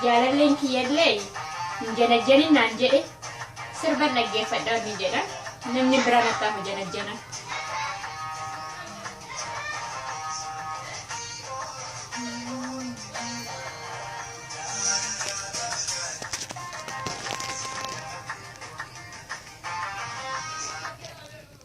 jaalalleen kiyyallee hin janajjanin naan jedhe sirban dhaggeeffadhaa ni jedha namni biraa nattaa hin janajjana.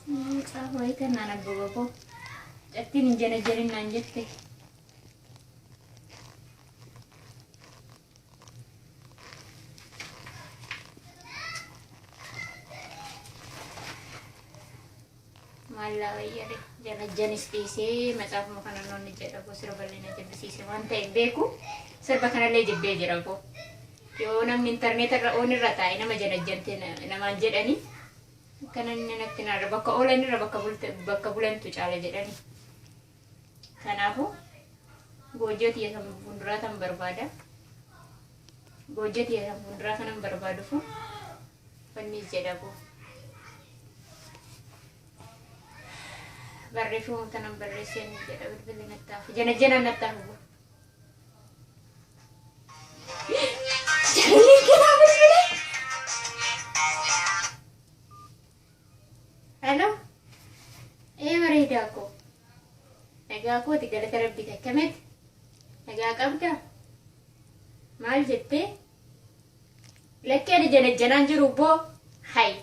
Mucaa horii kennaan abbaba koo. Jattiin hin janajjanin naan jette. Maallaa wayyare janajjanis dhiisee macaafuma kana noonni jedha koo sirba illee na jibbisiise waan ta'e beeku sirba kanallee jibbee jira koo. Yoo namni intarneeta irra oon irra taa'e nama janajjante namaan jedhanii Akkana inni natti naadha. Bakka oolan irra bakka bulte- bakka bulantu caala jedhani. Kanaafuu goojjoo tiyya san fuulduraa tan barbaada. Goojjoo tiyya san fuulduraa kanan barbaadufu wanni jedha koo. Barreeffama tanan barreessee ni jedha bilbila nattaaf. Janajjanaan nattaaf. Hello. Ee bareedaa koo. Nagaa kooti galata rabbii takkametti. Nagaa qabda. Maal jettee? Lakkee ani janajjanaan jiru boo. Hay.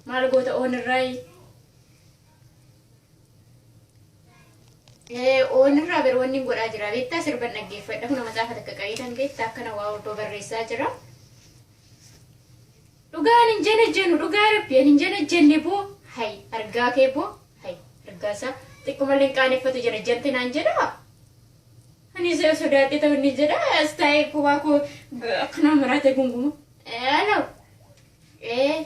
Maal goota oon irraayi? Oonirraa bar wanni godhaa jira beektaa sirban dhaggeeffadha kuna macaafa takka qabeetan beektaa akkana waa obboo barreessaa jira. Dhugaan hin janajjanu dhugaa rabbi ani hin janajjanne boo hay argaa kee boo hay argaa isaa xiqqumallee hin qaaneffatu janajjante naan jedhaa. Ani isa sodaadhe ta'u inni jedha as taa'ee kophaa koo akkanaa maraatee gunguma. Aloo. Ee.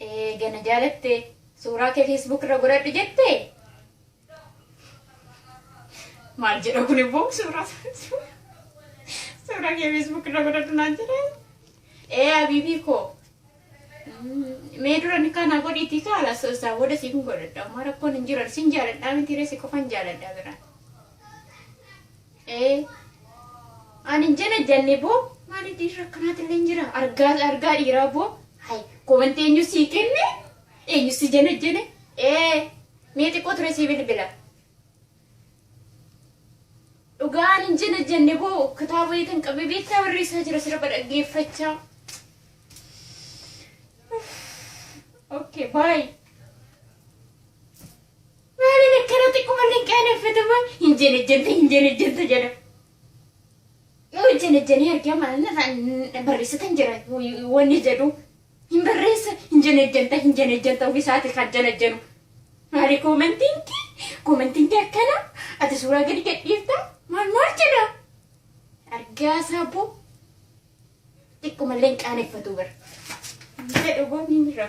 Eega na jaalatte suuraa kee Facebook irra godhadhu jette. Maal jedha kun immoo suuraa suuraa kee Facebook irra godhadhu naan jedhe. Ee abiibii koo. Mee dura ni kana godhiitii kaala isaa booda siif hin godhadha. Amma rakkoon hin jiran sin jaaladhaa miti reessi qofan jaaladha biraan. ee ani hin jenne janni boo maali dhiirri akkanaati illee hin jira argaa argaa dhiiraa boo hay komantii eenyu sii kenne eenyu si jenne jenne ee mee xiqqoo ture sii bilbila dhugaa ani hin jenne janni boo kitaaba yeetan qabee beektaa barreessaa jira sirba dhaggeeffachaa okay bye Maaliin akkana xiqqo manni hin qaaneffatu moo hin janajjanta hin janajjanta jedha. Yoo janajjanii argee maalna ta'an barreessatan jira wanni jedhu hin barreessa hin janajjanta hin janajjanta ofisaati kan janajjanu. Maali koomantiin kee koomantiin kee akkana ati suuraa gadi gadhiifta maal maal jedha. Argaa saaboo xiqqo mallee hin qaaneffatu bara. Jedhu boo ni jira.